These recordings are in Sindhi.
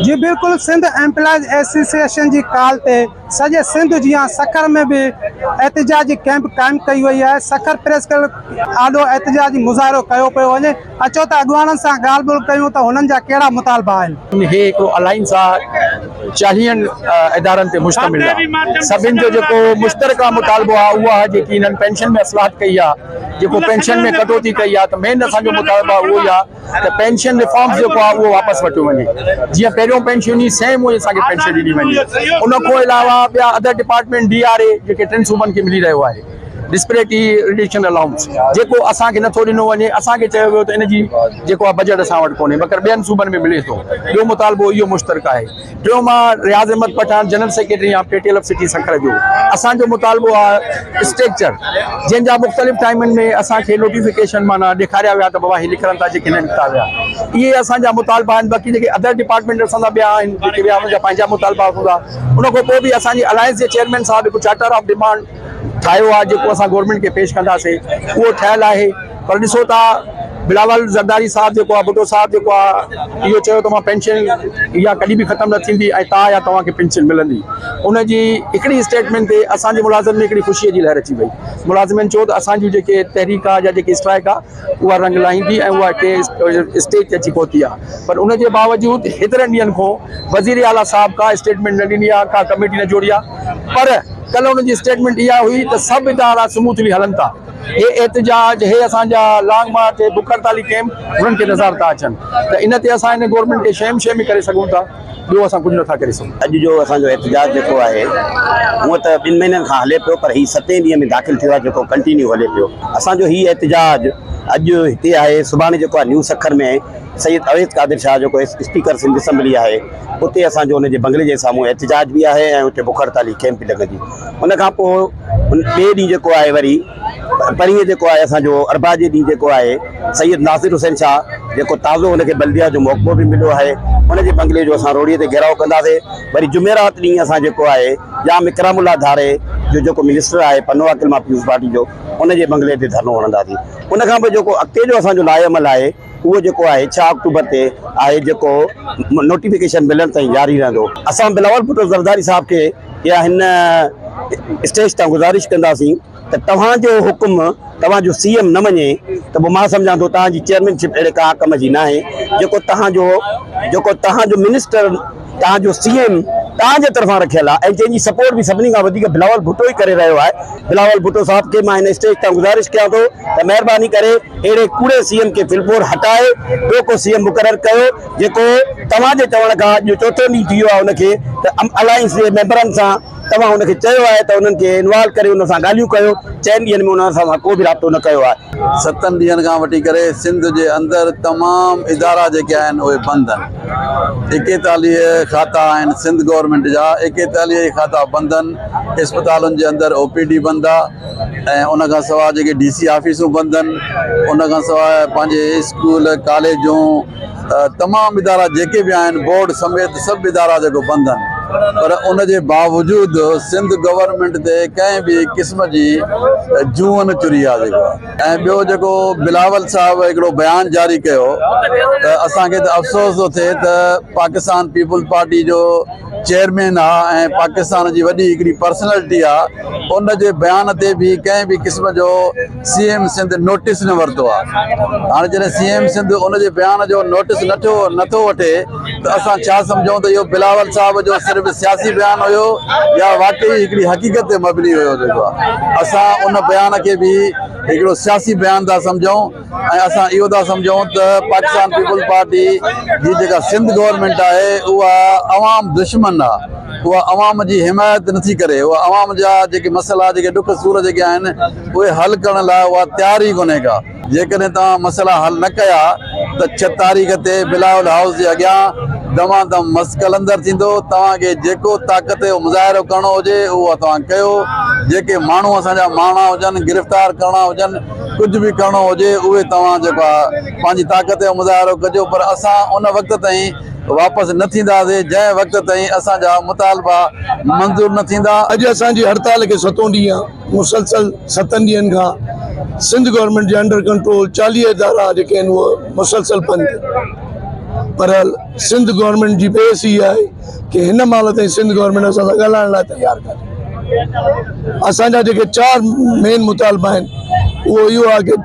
جي بلڪل سنڌ ايمپلائيز ايسوسيئيشن جي ڪال تي سڄي سنڌ جيان سکر ۾ به احتجاجي ڪيمپ قائم ڪئي وئي آهي سکر پريس ڪلب آڏو احتجاجي مظاهرو ڪيو پيو وڃي اچو ته اڳواڻن سان ڳالهه ٻولهه ڪيون ته هنن جا ڪهڙا مطالبا آهن. هي هڪڙو الائنس آ چاليهن ادارن تي مشتمل آ سڀن جو جيڪو مشترڪه مطالبو آ اهو آ جيڪي هنن پينشن ۾ اصلاحات ڪئي آ جيڪو پينشن ۾ ڪٽوتي ڪئي آ ته مين اسان جو مطالبا اهو ئي آ ته پينشن ريفارمز جيڪو آ اهو واپس ورتيو وڃي جيئن پهريون پينشن هئي سيم اهي اسان کي پينشن ڏني وڃي ان کون علاوه ٻيا other department D R A جيڪي ٽن صوبن کي ملي رهيو آهي. ڊسپريٽي رڊيشن الائونس جيڪو اسان کي نٿو ڏنو وڃي اسان کي چيو ويو ته ان جي جيڪو آهي بجيٽ اسان وٽ ڪونهي مگر ٻين صوبن ۾ ملي ٿو ٻيو مطالبو اهو مشترڪ آهي ٽيون مان Riaz Ahmed Pathan general secretary of P T L of city Sukkur جو اسان جو مطالبو آهي اسٽريڪچر جنهن جا مختلف ٽائمن ۾ اسان کي نوٽيفڪيشن معنيٰ ڏيکاريا ويا ته بابا هي نڪرن ٿا جيڪي نه نڪتا ويا اهي اسان جا مطالبا آهن باقي جيڪي ادر ڊپارٽمينٽ اسان سان ٻيا آهن جيڪي ٻيا ان جا پنهنجا مطالبا هوندا ان کان پوء به اسان جي الائنس جي چيئرمين صاحب هڪ چارٽر آف ڊمانڊ ٺاهيو آهي جيڪو اسان گورنمينٽ کي پيش ڪنداسين اهو ٺهيل آهي پر ڏسو ٿا بلاول زرداري صاحب جيڪو آهي ڀٽو صاحب جيڪو آهي اهو چيو ته مان پينشن اها ڪڏهن به ختم نه ٿيندي ۽ تاء يا توهان کي پينشن ملندي ان جي هڪڙي اسٽيٽمينٽ تي اسان جي ملازمن ۾ هڪڙي خوشي جي لهر اچي وئي ملازمين چيو ته اسان جون جيڪي تحريڪ آهي يا جيڪي اسٽرائڪ آهي اها رنگ لاهيندي ۽ اها ٽي اسٽيج تي اچي پهتي آهي پر ان جي باوجود هيترن ڏينهن کون وزير اعليٰ صاحب ڪا اسٽيٽمينٽ نه ڏني آهي ڪا ڪميٽي نه جوڙي آهي پر ڪلهه ان جي اسٽيٽمينٽ اها هئي ته سڀ ادارا سموٿلي هلن ٿا هي احتجاج هي اسان جا لانگ مارچ هي بک هڙتالي ڪيمپ هنن کي نظر ٿا اچن ته ان تي اسان هن گورنمينٽ کي شيم شيمي ڪري سگهون ٿا. ٻيو اسان ڪجهه نٿا ڪري سگهون. اڄ جو اسان جو احتجاج جيڪو آهي هونئن ته ٻن مهينن کان هلي پيو پر هي ستين ڏينهن ۾ داخل ٿيو آهي جيڪو ڪنٽينيو هلي پيو. اسان جو هي احتجاج اڄ هتي آهي سڀاڻي جيڪو آهي نيو سکر ۾ سيد اويس قادر شاهه جيڪو اسپيڪر سنڌ اسيمبلي آهي اتي اسان جو ان جي بنگلي جي سامهون احتجاج به آهي ۽ اتي بک هڙتالي ڪئمپ به لڳندي ان کان پوء ٻئي ڏينهن جيڪو آهي وري پرينء جيڪو آهي اسان جو اربع جي ڏينهن جيڪو آهي سيد ناصر حسين شاهه جيڪو تازو ان کي بلديه جو محڪمو به مليو آهي ان جي بنگلي جو اسان روهڙي تي گهيراء ڪنداسي وري جمعرات ڏينهن اسان جيڪو آهي ڄام اڪرام الله ڌاري جو جيڪو منسٽر آهي پنو عاقل مان پيپلز پارٽي جو ان جي بنگلي تي ڌرڻو هڻنداسي ان کان پوء جيڪو اڳتي جو اسان جو لاء عمل آهي اهو جيڪو آهي ڇهه آڪٽوبر تي آهي جيڪو نوٽيفڪيشن ملڻ تائين جاري رهندو اسان بلاول ڀٽو زرداري صاحب کي يا هن اسٽيج تان گذارش ڪنداسين ته توهان جو حڪم توهان جو سي ايم نه مڃي ته پوء مان سمجهان ٿو توهان جي چيئرمين شپ اهڙي ڪا ڪم جي ناهي جيڪو توهان جو جيڪو توهان جو منسٽر توهان جو سي ايم توهان جي طرفان رکيل آهي ۽ جنهن جي سپورٽ به سڀني کان وڌيڪ بلاول ڀٽو ئي ڪري رهيو آهي بلاول ڀٽو صاحب کي مان هن اسٽيج تان گذارش ڪيان ٿو ته مهرباني ڪري اهڙي ڪوڙي سي ايم کي ڦلپور هٽائي ٻيو ڪو سي ايم مقرر ڪيو جيڪو توهان جي چوڻ کان اڄ جو چوٿون ڏينهن ٿي ويو آهي ان کي ته الائنس جي ميمبرن سان توهان هن کي چيو آهي ته انهن کي انوالو ڪري انهن سان ڳالهيون ڪيو، چئن ڏينهن ۾ انهن سان ڪو به رابطو نه ڪيو آهي. ستن ڏينهن کان وٺي ڪري سنڌ جي اندر تمام ادارا جيڪي آهن اهي بند آهن ايڪيتاليهه کاتا آهن سنڌ گورنمينٽ جا ايڪيتاليهه ئي کاتا بند آهن اسپتالن جي اندر او پي ڊي بند آهي ۽ ان کان سواء جيڪي ڊي سي آفيسون بند آهن ان کان سواء پنهنجي اسڪول ڪاليجون تمام ادارا جيڪي به آهن بورڊ سميت سڀ ادارا جيڪو بند آهن پر ان جي باوجود سنڌ گورنمينٽ تي ڪنهن به قسم جي جون چري آهي جيڪو ۽ ٻيو جيڪو بلاول صاحب هڪڙو بيان جاري ڪيو ته اسان کي ته افسوس ٿو ٿئي ته پاڪستان پيپلز پارٽي جو چيئرمين آ ۽ پاڪستان جي وڏي هڪڙي پرسنالٽي آ ان جي بيان تي به ڪنهن به قسم جو سي ايم سنڌ نوٽيس نه ورتو آ هاڻي جڏهن سي ايم سنڌ ان جي بيان جو نوٽيس نه ٿيو نه ٿو وٺي ته اسان ڇا سمجهون ته اهو بلاول صاحب جو صرف سياسي بيان هيو يا واقعي هڪڙي حقيقت تي مبني هيو جيڪو آ اسان ان بيان کي به هڪڙو سياسي بيان ٿا سمجهون ۽ اسان اهو ٿا سمجهون ته پاڪستان پيپلز پارٽي جي جيڪا سنڌ گورنمينٽ آهي اها عوام دشمن آ اها عوام جي حمايت نه ٿي ڪري، اها عوام جا جيڪي مسئلا، جيڪي ڏک سور جيڪي آهن، اهي حل ڪرڻ لاء اها تيار ئي ڪونهي ڪا. جيڪڏهن توهان مسئلا حل نه ڪيا ته ڇهه تاريخ تي بلاول هائوس جي اڳيان دمان دم مس قلندر ٿيندو، توهان کي جيڪو طاقت جو مظاهرو ڪرڻو هجي اهو توهان ڪيو، جيڪي ماڻهو اسان جا مارڻا هجن، گرفتار ڪرڻا هجن، ڪجهه به ڪرڻو هجي اهي توهان جيڪو آهي پنهنجي طاقت جو مظاهرو ڪجو پر اسان ان وقت تائين. واپس نه ٿينداسين جنهن وقت تائين اسان جا مطالبا منظور نه ٿيندا. اڄ اسان جي هڙتال کي ستون ڏينهن آهي مسلسل ستن ڏينهن کان سنڌ گورنمينٽ جي انڊر ڪنٽرول چاليهه ادارا جيڪي آهن اهي مسلسل بند آهن پر سنڌ گورنمينٽ جي بحث هي آهي ڪي هن مهل تائين سنڌ گورنمينٽ اسان سان ڳالهائڻ لاء تيار ڪانهي اسان جا جيڪي چار مين مطالبا آهن اهو اهو آهي ڪي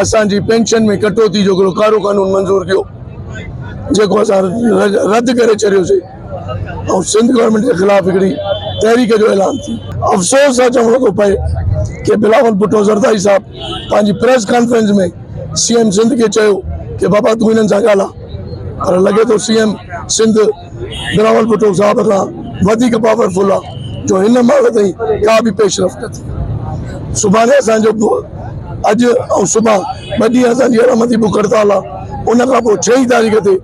اسان جي پينشن ۾ ڪٽوتي جو هڪڙو ڪارو قانون منظور ڪيو جيڪو اسان رد ڪري ڇڏيوسي ۽ سنڌ گورنمينٽ جي خلاف هڪڙي تحريڪ جو اعلان ٿي افسوس سان چوڻو ٿو پئي ڪي بلاول ڀٽو زرداري صاحب پنهنجي press conference ۾ C M Sindh کي چيو ڪي بابا تون هنن سان ڳالهاء پر لڳي ٿو سي ايم سنڌ بلاول ڀٽو صاحب کان وڌيڪ پاور فل آ جو هن مهل تائين ڪا به پيش رفت نه ٿي آ سڀاڻي اسان جو اڄ ۽ صبح ٻه ڏينهن اسان جي اڙم تي بک هڙتال آ ان کان پوء ڇهين تاريخ تي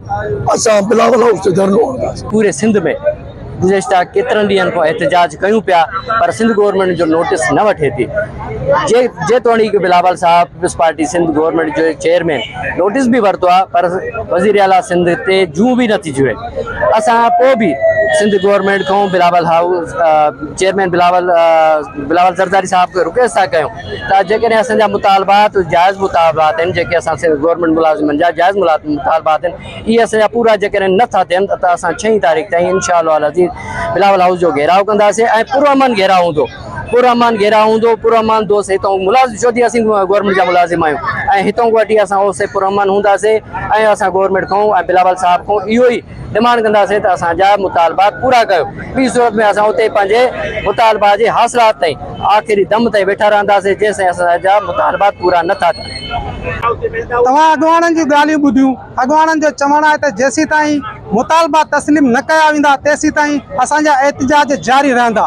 اسان بلاول هائوس تي ڌرڻو هڻنداسين. پوري سنڌ ۾ گذشته ڪيترن ڏينهن کان احتجاج ڪيون پيا پر سنڌ گورنمينٽ جو نوٽس نه وٺي ٿي. جيتوڻيڪ بلاول صاحب پيپلز پارٽي سنڌ گورنمينٽ جو چيئرمين نوٽيس به ورتو آهي پر وزير اعليٰ سنڌ تي جون به نٿي جوئي اسان پوء به سنڌ گورنمينٽ کان بلاول هائوس چيئرمين بلاول بلاول زرداري صاحب کي رڪويسٽ ٿا ڪيون ته جيڪڏهن اسان جا مطالبات جائز مطالبات آهن جيڪي اسان سنڌ گورنمينٽ ملازمن جا جائز مطالبات آهن اهي اسان جا پورا جيڪڏهن نٿا ٿين ته اسان ڇهين تاريخ تائين انشاء الله العزيز بلاول هائوس جو گهيراء ڪنداسين ۽ پرامن گهيراء هوندو پرامان گهيراء هوندو پرامان دوست هتئون ملازم چوڌي اسين گورنمينٽ جا ملازم آهيون ۽ هتئون وٽي اسان اوس سي پرامان هونداسي ۽ اسان گورنمينٽ کان ۽ بلاول صاحب کان اهو ئي ڊمانڊ ڪنداسي ته اسان جا مطالبات پورا ڪيو ٻي صورت ۾ اسان اتي پنهنجي مطالبات جي حاصلات تائين آخري دم تائين ويٺا رهنداسي جيسين اسان جا مطالبات پورا نه ٿا ٿين. توهان اڳواڻن جون ڳالهيون ٻڌيون اڳواڻن جو چوڻ آهي ته جيسيتائين مطالبا تسليم نه ڪيا ويندا تيسيتائين اسان جا احتجاج جاري رهندا.